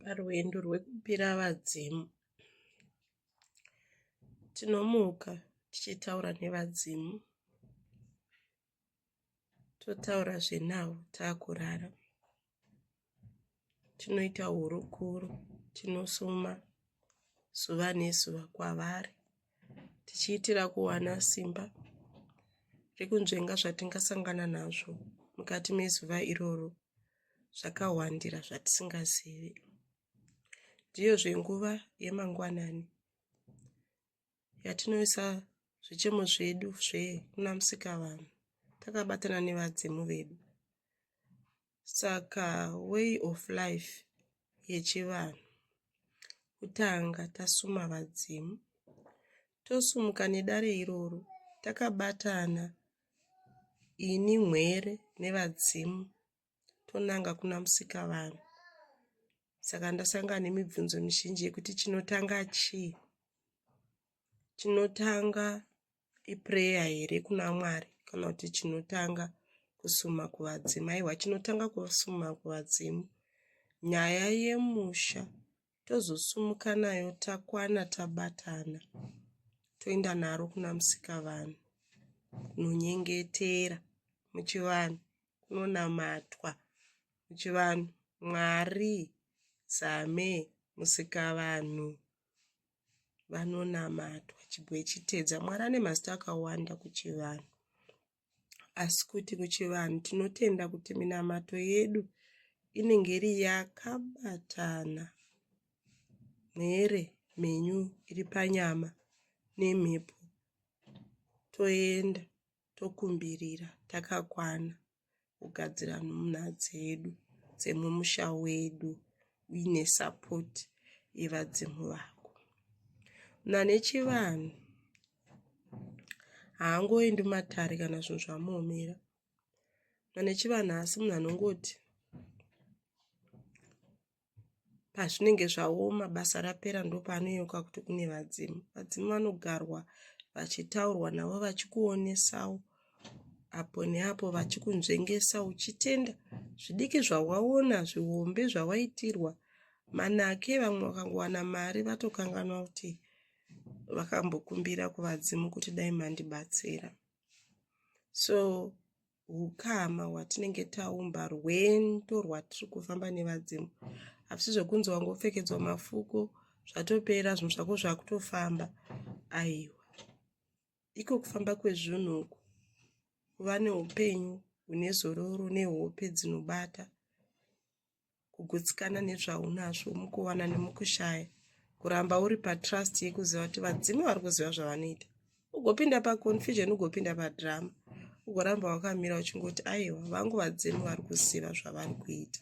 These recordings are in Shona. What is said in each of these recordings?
parwendo rwekupira vadzimu tinomuka tichitaura nevadzimu totaura zvenavo taakurara tinoita hurukuro tinosuma zuva nezuva kwavari tichiitira kuwana simba rekunzvenga zvatingasangana nazvo mukati mezuva iroro zvakawandira zvatisingazivi ndiyozve nguva yemangwanani yatinoisa zvichemo zvedu zvekuna musikavanhu takabatana nevadzimu vedu saka way of life yechivanhu kutanga tasuma vadzimu tosumuka nedare iroro takabatana Ini mhere nevadzimu tonanga kuna musikavanhu saka ndasangana nemibvunzo mizhinji yekuti chinotanga chii chinotanga ipureya here kuna mwari kana kuti chinotanga kusuma kuvadzimu aiwa chinotanga kusuma kuvadzimu nyaya yemusha tozosumuka nayo takwana tabatana toenda naro kuna musikavanhu kunonyengetera muchivanhu kunonamatwa muchivanhu mwari zame musikavanhu vanonamatwa chibwe chitedza mwari ane mazita akawanda kuchivanhu asi kuti kuchivanhu tinotenda kuti minamato yedu inenge iri yakabatana mhere mhenyu iri panyama nemhepo toenda tokumbirira takakwana kugadzira nhumwa dzedu dzemumusha wedu uine support yevadzimu vako nanechivanhu haangoendi matare kana zvinhu zvamuomera nanechivanhu haasi munhu anongoti pazvinenge zvaoma basa rapera ndopaanoyeuka kuti kune vadzimu vadzimu vanogarwa vachitaurwa navo vachikuonesawo apo neapo vachikunzvengesa uchitenda zvidiki zvawaona zvihombe zvawaitirwa manake vamwe vakangowana mari vatokanganwa kuti vakambokumbira kuvadzimu kuti dai mandibatsira so hukama hwatinenge taumba rwendo rwatiri kufamba nevadzimu hapisi zvekunzi wanga upfekedzwa mafuko zvatopera zvinhu zvako zvakutofamba aiwa iko kufamba kwezvinhu uku kuva neupenyu hune zororo nehope dzinobata kugutsikana nezvaunazvo mukuwana nemukushaya kuramba uri patrust yekuziva kuti vadzimu vari kuziva zvavanoita ugopinda paconfusion ugopinda padrama ugoramba wakamira uchingoti aiwa vangu vadzimu vari kuziva zvavari kuita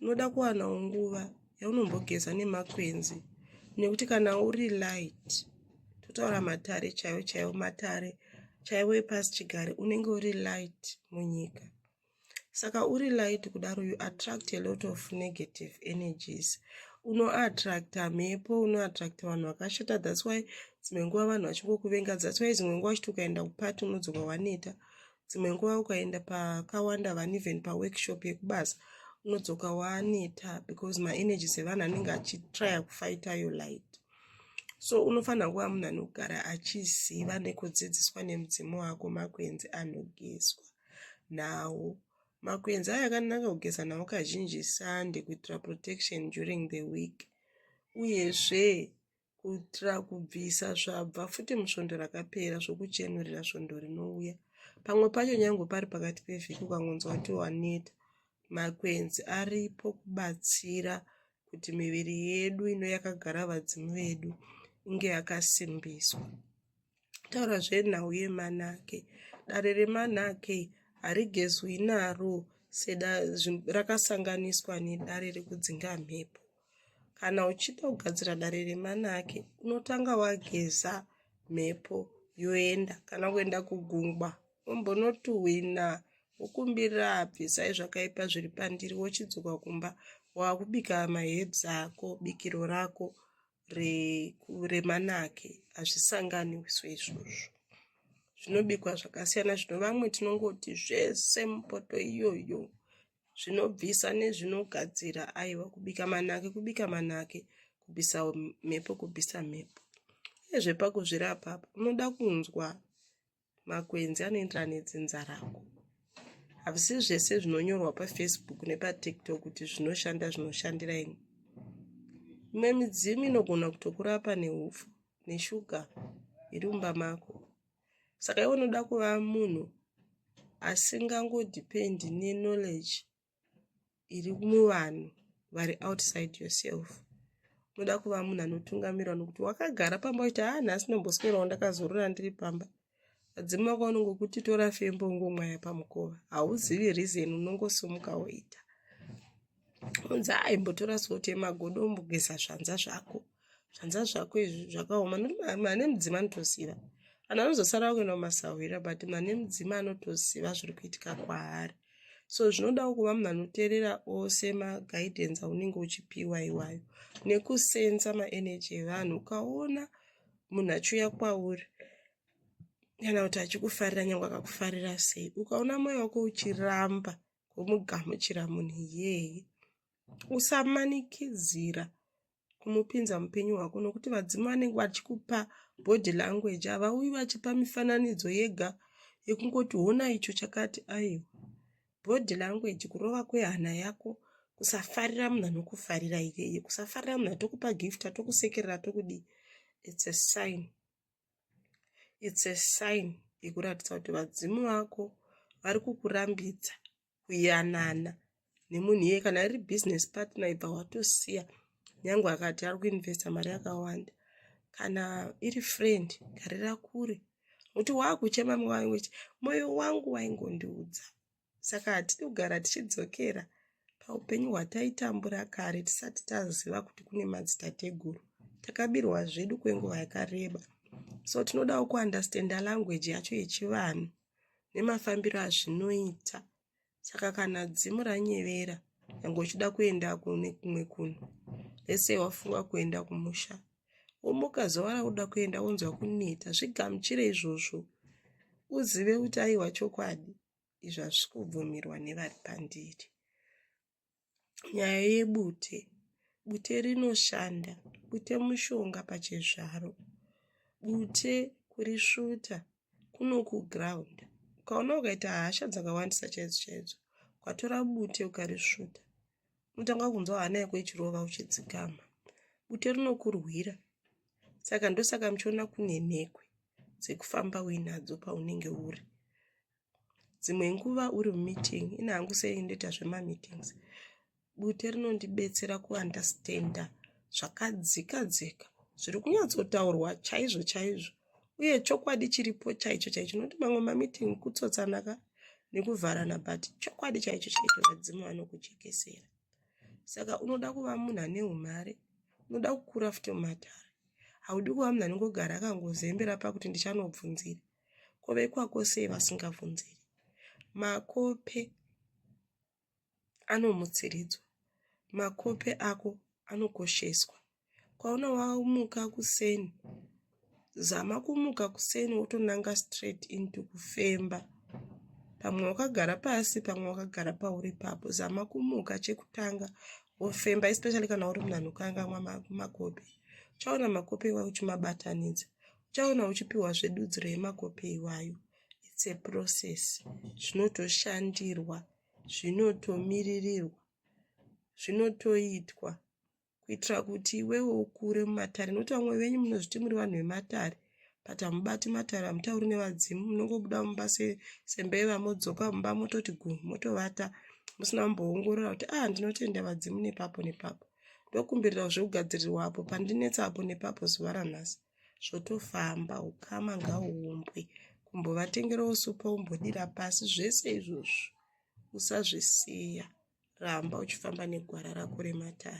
unoda kuwanawo nguva yaunombogeza nemakwenzi nekuti kana uri light totaura matare chaiwo chaiwo matare chaiwo epasi chigare unenge uri light munyika saka uri light kudaro you attract a lot of negative energies unoattracta mhepo unoattracta vanhu vakashata thats why dzimwe nguva vanhu vachingokuvenga thats why dzimwe nguva uchiti ukaenda kupati unodzoka waneta dzimwe nguva ukaenda pakawanda vani even paworkshop yekubasa unodzoka waneta because maenergies evanhu anenge achitrya kufighta your light so unofanira kuva munhu anogara achiziva nekudzidziswa nemudzimu wako makwenzi anogezwa nawo. Makwenzi aya akanaka kugeza nawo kazhinji sande kuitira protection during the week uyezve kuitira kubvisa zvabva futi musvondo rakapera zvokuchenurira svondo rinouya pamwe pacho nyange pari pakati pevhiki ukangonzwa kuti waneta makwenzi aripo kubatsira kuti miviri yedu ino yakagara vadzimu vedu inge yakasimbiswa taura zvenhau yemanake dare remanake harigezwi naro seda rakasanganiswa nedare rekudzinga mhepo kana uchida kugadzira dare remanake unotanga wageza mhepo yoenda kana kuenda kugungwa ombonotuhwina wokumbirira abvisai zvakaipa zviri pandiri wochidzoka kumba waakubika mahebs ako bikiro rako remanake hazvisanganiswe izvozvo zvinobikwa zvakasiyana zvino vamwe tinongoti zvese mupoto iyoyo zvinobvisa nezvinogadzira aiwa kubika manake kubika manake kubvisa mhepo kubvisa mhepo ezvepakuzvirapa apa unoda kunzwa makwenzi anoenderana nedzinza rako havisi zvese zvinonyorwa pafacebook nepatiktok kuti zvinoshanda zvinoshandira ini imwe midzimu inogona kutokurapa neufu neshuga iri mumba mako saka iwe unoda kuva munhu asingangodhipendi neknowledge iri muvanhu vari outside yourself unoda kuva munhu anotungamirwa nokuti wakagara pamba kuti haa nhasi ndomboswerawo ndakazorora ndiri pamba adzima wako unongokuti tora fembo ungomwaya pamukova hauzivi reason unongosomuka woita unzi aimbotora soti yemagodo umbogeza zvanza zvako zvanza zvako izvi zvakaoma mane mudzima anotoziva vanhu vanozosara vakuenda kumasahwira but mane mudzima anotoziva zviri kuitika kwaari so zvinodawo kuva munhu anoteerera ose maguidance aunenge uchipiwa iwayo nekusenza maenergy evanhu ukaona munhu achiuya kwauri kana kuti achikufarira nyange akakufarira sei ukaona moyo wako uchiramba kumugamuchira munhu iyeye usamanikidzira kumupinza mupenyu hwako nokuti vadzimu vanenge vachikupa body language havauyi vachipa mifananidzo yega yekungoti hona icho chakati aiwa body language kurova kwehana yako kusafarira munhu anokufarira iyeye kusafarira munhu atokupa gift atokusekerera atokudii its a sign its a sign yekuratidza kuti vadzimu vako vari kukurambidza kuyanana nemunhu iye kana iri business partner ibva watosiya nyange akati ari kuinvesta mari yakawanda kana iri friend garira kure kuti waakuchema mwayo wechi mwoyo wangu waingondiudza saka hatidi kugara tichidzokera paupenyu hwataitambura kare tisati taziva kuti kune madzitateguru takabirwa zvedu kwenguva yakareba so tinodawo kuunderstanda language yacho yechivanhu nemafambiro azvinoita saka kana dzimu ranyevera nyange uchida kuenda kune kumwe kunhu lese wafunga kuenda kumusha womuka zuva rauda kuenda wonzwa kuneta zvigamuchire izvozvo uzive kuti aiwa chokwadi izvi hazvikubvumirwa nevari pandiri nyaya yebute bute rinoshanda bute mushonga pachezvaro bute kurisvuta kunokuground ukaona ukaita hasha dzakawandisa chaidzo chaidzo ukatora bute ukarisvuta unotanga kunzwa hana yako ichirova uchidzikama bute rinokurwira saka ndosaka muchiona kunenhekwe dzekufamba uinadzo paunenge uri dzimwe nguva uri mumeeting ini hangu sei ndoita zvemameetings bute rinondibetsera kuunderstanda zvakadzika dzika zviri kunyatsotaurwa chaizvo chaizvo uye chokwadi chiripo chaicho chaicho nokuti mamwe mameeting kutsotsanaka nekuvharana but chokwadi chaicho chaicho vadzimu vanokujekesera saka unoda kuva munhu ane umhare unoda kukura futi mumatare haudi kuva munhu anongogara akangozembera pakuti ndichanobvunzira ko vekwako sei vasingavhunziri makope anomutsiridzwa makope ako anokosheswa kwaona wamuka kuseni zama kumuka kuseni wotonanga straight into kufemba pamwe wakagara pasi pamwe wakagara pauri papo zama kumuka chekutanga wofemba especially kana uri munhu anokangamwa makope uchaona makope iwa uchimabatanidza uchaona uchipiwazve dudziro yemakope iwayo its a process zvinotoshandirwa zvinotomiririrwa zvinotoitwa kuitira kuti iwewo ukure mumatare nokuti vamwe venyu munozviti muri vanhu vematare but hamubati matare hamutauri nevadzimu munongobuda mumba sembeva modzoka mumba mototi gu motovata musina kumboongorora kuti ah ndinotenda vadzimu nepapo nepapo ndokumbirira zvekugadzirirwa apo pandinetsa apo nepapo zuva ranhasi zvotofamba ukama ngauumbwe kumbovatengerawo supa umbodira pasi zvese izvozvo usazvisiya ramba uchifamba negwara rako rematare